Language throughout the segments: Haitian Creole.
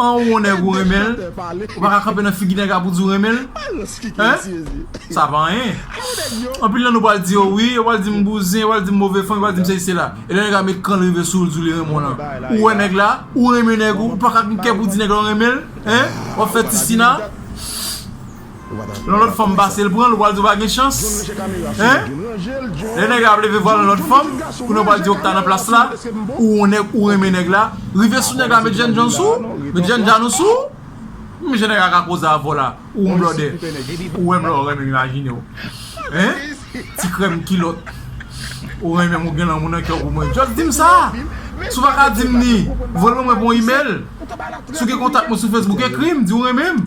An won nèg ou renmen l ou pa ka kanpe nan figi nèg la pou di ou renmen l hein sa pa anyen anpil nan nou pral di yo wi yo pral di m bouzen yo pral di m move fanm yo pral di m sesi sela elè nèg la met kran l rive sou ou l di w li renmen w lan ou wè nèg la ou renmen nèg ou ou pa ka gen kè pou di nèg la ou renmen l hein wap fè ti sina. Yon lòt fanm pasel pranl ou pral di ou pa gen chans hein lè nèg la ap leve vwal yon lòt fanm kounya ou pral di okta nan plas la ou yon nèg ou renmen nèg la rive sou nèg la met jènjan sou ou met jènjan ou sou ou mesye nèg la ka koze avèw la ou yon blòdè ou wèm lè ou renmenm imajinew hein ti krèm kilòt ou renmenm ou gen lanmou nan kèw pou mwen just dim sa si ou pa ka dim ni voyel mwen mwen pou yon email si ou gen kontak mwen sou facebook ekrim di ou renmenm.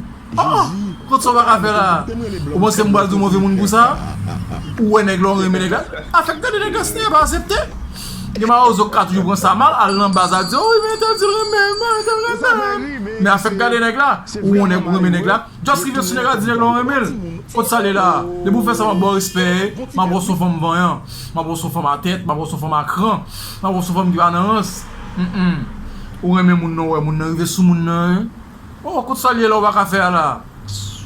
Kot sa w pa ka fè la a? Ou panse m pral di w move moun pou sa a? Ou wè nèg la ou renmen nèg la. Afè k gade nèg la si nèg la pa asepte. Gen mawozo k ka toujou pran sa mal al nan baz al di wi men tèl di l renmen m men tèl renmen m. Men afè k gade nèg la ou wè nèg ou renmen nèg la. Just rive sou nèg la di nèg la ou renmen l. Kot sa l ye la a? Depi w fè sa m ap ba w respè e. M ap wè w s on fanm vanyan. M ap wè w s on fanm a tèt. M ap wè w s on fanm a kran. M ap wè w s on fanm ki pa nan rans. Ou renmen moun nan ou wè moun nan rive sou moun nan e. Oh kot sal ye la ou paka fè a la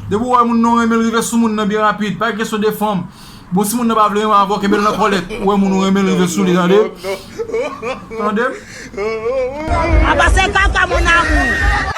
depi ou wè moun nan ou renmenl rive sou moun nan byen rapid pa gen kesyon de fanm bon si moun nan pa vle renmen avèw kenbel nan kòlèt ou wè moun ou renmenl rive sou li tande tandem. Apa se kaka mon amour.